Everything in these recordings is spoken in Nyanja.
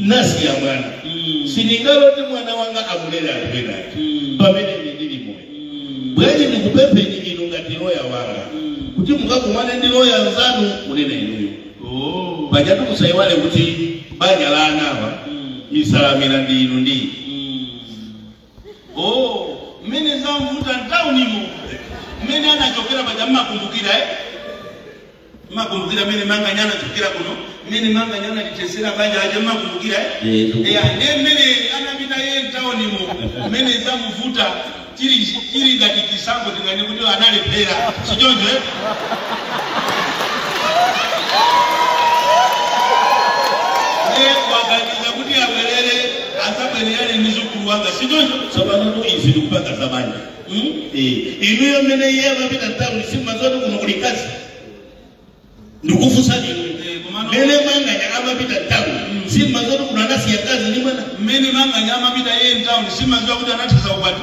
nasiya mwana sindingalole mwana wanga amulere anthu ena aja pamene ine ndili moyo bwanji ndikupempheni inu ngati loya wanga kuti mukakumane ndi loya nzanu kunena inuyo Oh. pajatu musaiwale kuti banja la anawa nsanamira ndi inu ndi ine. Mm. Oh, mmene zamvuta mtaunimo mmene anachokera paja mmakumbukira eh? mmakumbukira mmene manganya anachokera kuno mmene manganya anathetsera banja aja mmakumbukira eh? Eh, ndugu. Yeah, ndiye mmene anapita iye mtaunimo mmene zamuvuta chili chili ngati chisankho tingati kuti analephera sichoncho eh? ndiye waganiza kuti abwerere Adzabwerere ndi mdzukulu wanga, sichoncho? Tsopanotu izi ndikupanga za banja. Hmm? Eh, inuyo mmene iye amapita mtauni simumadziwa kuti kuno kuli mkazi? Ndikufunsani inu. Eh, komano- Mmene manganya amapita mtauni simumadziwa kuti kuno anasiya mkazi ndi mwana? Mmene manganya amapita iye mtauni simumadziwa kuti anathetsa ukwati?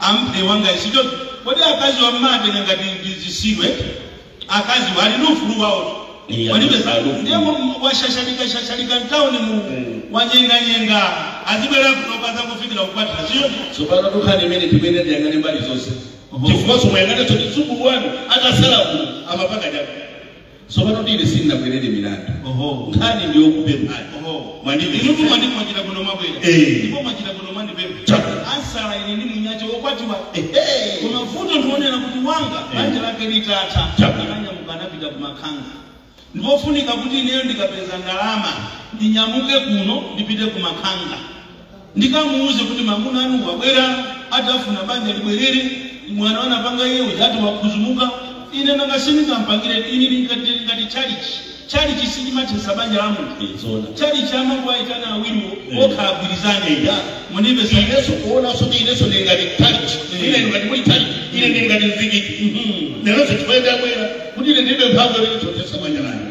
Amphe wanga si choncho kodi akaziwa mmatenga ngati ndi zitsiru eti akaziwa ali ndi ufulu wawotu Iya, palibe ali za ufulu. ndiye mu- washashalika shashalika mtauni mu wanyenganyenga azibwera kuno kudzangofikira kukwatira sichoncho tsopano tu nkhani imene timene tiyang'ane mbali zonse Oho. chifukwa simuyang'ana zoti mdzukulu wanu atasala kuno amapanga chani Tsopano tu ine sindinabwerere milandu. Oho. Nkhani ndi yokupemphani. Oho. Mwandipeza. Inutu mwandi mwachita bwino mwabwera. Eh. Ndipo mwachita bwino mwandipempha. Chabe. Amsala ine ndi munyache wokwatiwa. Ehe. Koma vuto ndi lonena kuti wanga Eh. banja lake litatha Chabe. ananyamuka anapita kumakhanga. Ndipofunika kuti ineyo ndikapeza ndalama ndinyamuke kuno ndipite kumakhanga. Ndikamuuze kuti amuna anu wabwera ati akufuna banja libwerere, mwano anapanga iye uja ati wadzidzimuka, ine nanga sindingampangire ine ndili ngati ndili ngati tchalitchi. Tchalitchi sichimathetsa banja la munthu. Ee, zoona. Tchalitchi amangowaitana awiriwo Ee. okha agwirizane. Eya. Ya, mundimvetse. Inenso kuonanso kuti inenso ndili ngati tchalitchi. Ee. Ine ndili ngati kuli tchalitchi. Ine ndili ngati mzikiti. Mhm. Leronso chifukwa ndabwera kuti ine ndilibe mphamvu yoti ndithetsa banja langa.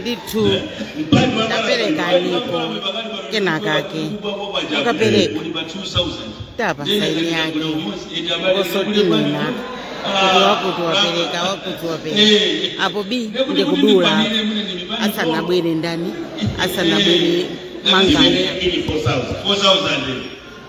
ndithu taperekaniko kenakake akapereka tapasa sayini yake osati kunena kuti wakuti wapereka wakuti wapereka apo bi ndi kudula asanabwere ndani asanabwere manganya 4,000.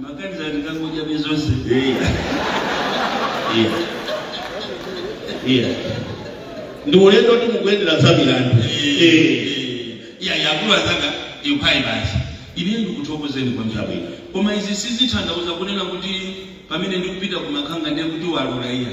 Makanjira ndikangodyapo zonse. Iya. Iya. Iya. Ndi ulendo kuti mukuyendera za milandu. Eh. Iya yakulula anzanga ikhale basi. Ine ndikuthokozeni kwa njira bwino. Koma izi sizikutanthauza kunena kuti pamene ndikupita kumakhanga ndiye kuti walula iya.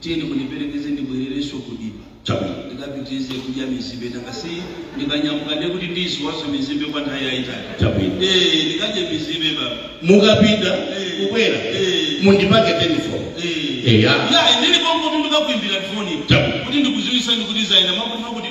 Tiyeni mundiperekeze ndibwererenso ku dimba. Chabwino. Ndikapitirize kudya mizimbe nanga si ndikanyamuka ndiye kuti ndiziwonanso mizimbe kwa nthawi yayitali. Chabwino. Eh, ndikadye mizimbe baba. Mukapita Eh. kubwera Eh. mundipange telefoni. Eh. Eya. Ya, ndili konko kuti ndikakuimbira foni. Chabwino. Kuti ndikuziwisani kuti zayenda mwakuti mwakuti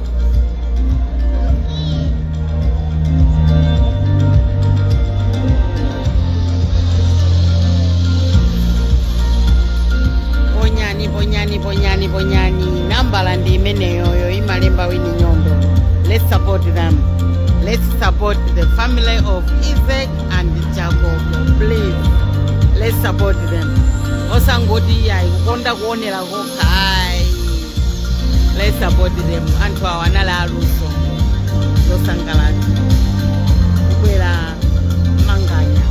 ponyani ponyani ponyani ponyani nambala ndi imeneyoyo ikulemba wini nyondo let's support them let's support the family of isaac and jacob please let's support them osangoti ayi kukonda kuonera Kokha ayi. Let's support them. Anthu awa anali aluso osangalatsa kubwera manganya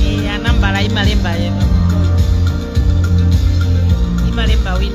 Eh, nambala imalemba ina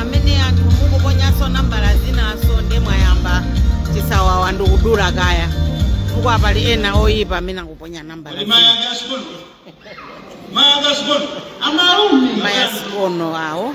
amene anthu mukuponyaso nambala zinazo nde mwayamba chisawawa ndikudula kaya chifukwa pali ena oyipa amene akuponya nambala Kodi mayi ake asikono? Mayi ake asikono? Amalume. maya sikono awo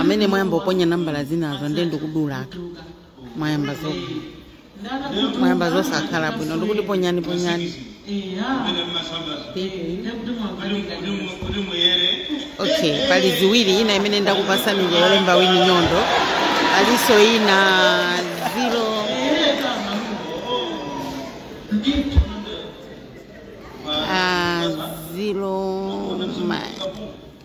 amene mwayamba kuponya nambala zinazo ndiye ndikudulatu mwayamba zo mwayamba zosakhala bwino ndikuti ponyani ponyani okay pali ziwiri ina imene ndakupasani ija yolemba wini nyondo palinso ina zero ah, zero ma-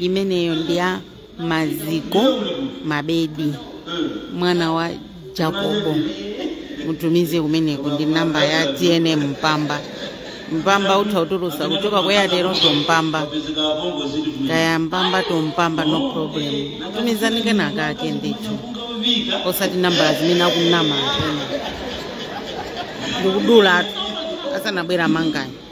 imeneyo ndi ya maziko mabedi mwana wa jakobo mutumize kumeneko ndi namba ya tnm mpamba mpamba mutha kutulusa kuchoka kwa airtel to mpamba kaya mpamba to mpamba no problem tumizani kena kake ndithu osati nambala zimene akunama enawo ndikudula asanabwera manganya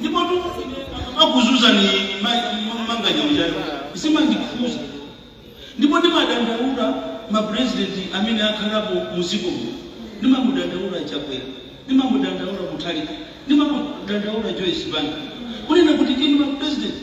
ndipotu ndikuuzani manganya ujayo zimandikhuza ndipo ndimadandaula mapurezidenti amene akhalapo muziko muno ndimamudandaula chakwera ndimamudandaula mutharika ndimamudandaula joyce banda kunena kuti inu mapurezidenti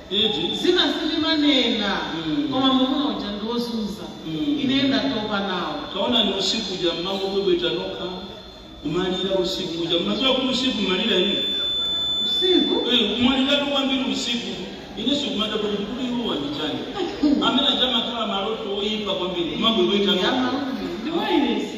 Iti? Zina sitimanena Mm. koma mwamuna uja ndiwozunza Mm. ine ndatopa nawo taonani usiku uja mmangobwebweta nokha kumalira usiku uja mmadziwa kuti usiku mmalira inu usiku kumaliratu kwambiri usiku ine nkumada kuti kodi awa ndi chani amene aja amakhala maloto oyipa kwambiri mmangobwebweta nokha amalume ndi wailesi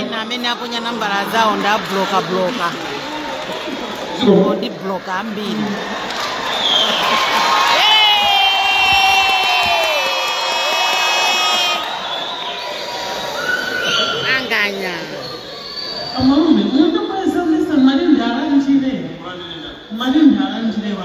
ina mmene aponya nambala zawo ndabloka bloka ndi bloka ambiri anganya Amalume, munthu kweza misa mali ndala njire. Mali ndala njire wa.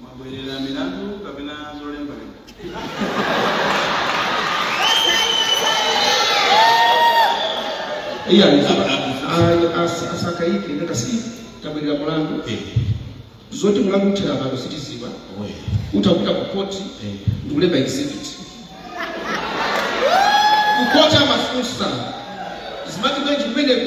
mwabwerera milandu kapena zolembalemba iye alizaba asakaike ndi akazi tabwerera mulandu zoti mulandu uthere pano sitiziwa utapita ku koti ndikulemba exhibit kukoti amafunsa zimati bwenji kumeneko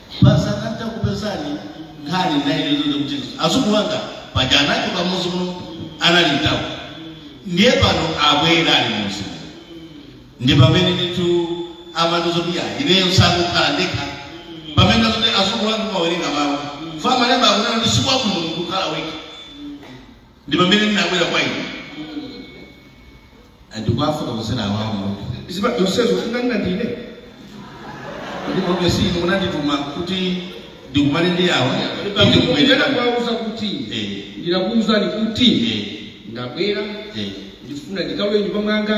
Basi kuti ndakupezani nkhani naine zoti kuti azukulu anga paja anachoka mudzi muno anali mtawo ndiye pano abwera ali mudzi ndi pamene nditu amandiuza kuti ya ineyo sindingakhale ndekha pamene zoti azukulu anga amawerenga mawu pa malemba akunena kuti sikwabwino kukhala wekha ndi pamene ndinabwera kwa inu Eh, ndikuwafotokozera awa mudziwa zonsezo unganena ndine kuti komabe si inu munandituma kuti ndikumane ndi awa kuti pamene ndikubwera kuwauza kuti Eh. ndinakuuzani kuti Eh, ndabwera eh. ndifuna ndikalowe mnyumba mwanga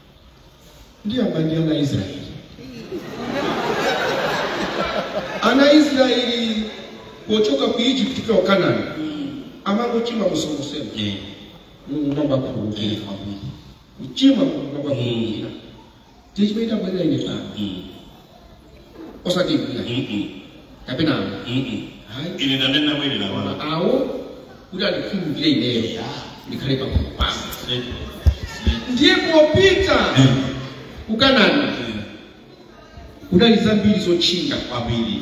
ndiyamba ndi ana israeli ana israeli pochoka ku egypt kupita ku kanani amangochimwa mosonkhosema Eh, mulungu nkumawakhululukira eh, kwambiri. kuchimwa mulungu nkumawakhululukira nchimene nda bwera ine pano Mm. osati bwanji Mm-mm. kapena Mm-mm. hayi ine ndanena mwini la wala awo kuti andikhululukire ineyo ndikhale pafupi pasi ndiye popita ku kanani kunali zambiri zotchinga kwambiri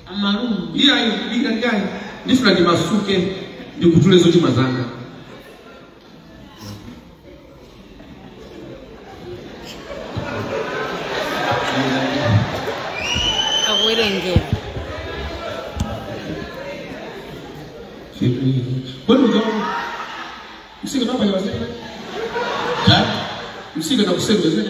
amalume iye ayi ndili ndi nkhani ndifuna ndimasuke ndikutule zochimwa zanga akuwerengera kodi uzo msika nabayawazeaa msika nakusebezene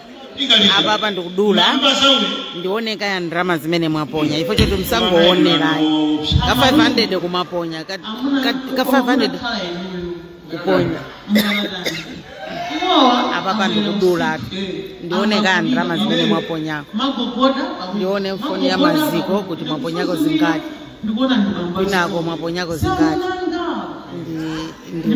apapa ndikudula ndione kaya ndalama zimene mwaponya ifo choti musangoonerayi ka 500 kumaponya ka, ka, ka 500 kuponya apapa ndikudula ndione kaya ndalama zimene mwaponyako ndione mfoni ya maziko kuti mwaponyako zingati kwinako mwaponyako zingati ndi, ndi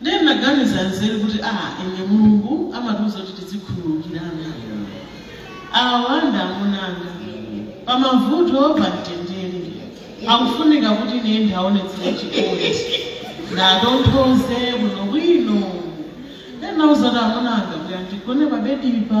Ndiye ndinaganiza nzeru kuti aa ine Mulungu amatiuza kuti tidzikhululukirana. Awa ndi amuna anga. Pa mavuto pa mtendere. Akufunika kuti ine ndiaonetsere chikondi. Ndatonthoze bwino bwino. Ndiye ndinauza kuti amuna anga bwerani tigone pa bedipa.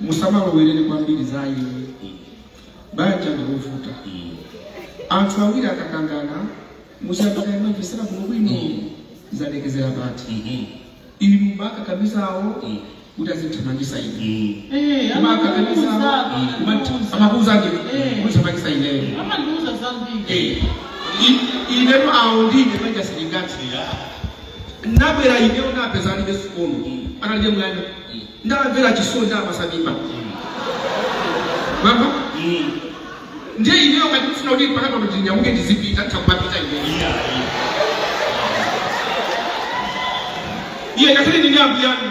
musamalowerere kwambiri za ayi banja ndikuvuta anthu awiri akakangana musiya panapa mumvetsere kuno bwino zalekezera pati inu mukakamiza awo kuti azithamangisa ine Eh, koma akakamiza amakuuza. amakuuza ndi Eh. kuthamangisa ineyo Amandiuza zambiri. Eh, i- inetu awo ndine manja silingatira Nabwera ineyo napeza alibe sikono analibe mwana ndamvera chisoni ndapasa mimba mama ndiye ineyo ngati mfuna kuti mpaka pano ndinyamuke ndizipita takupapita ineyo iye ngakhale ndine ambuyanu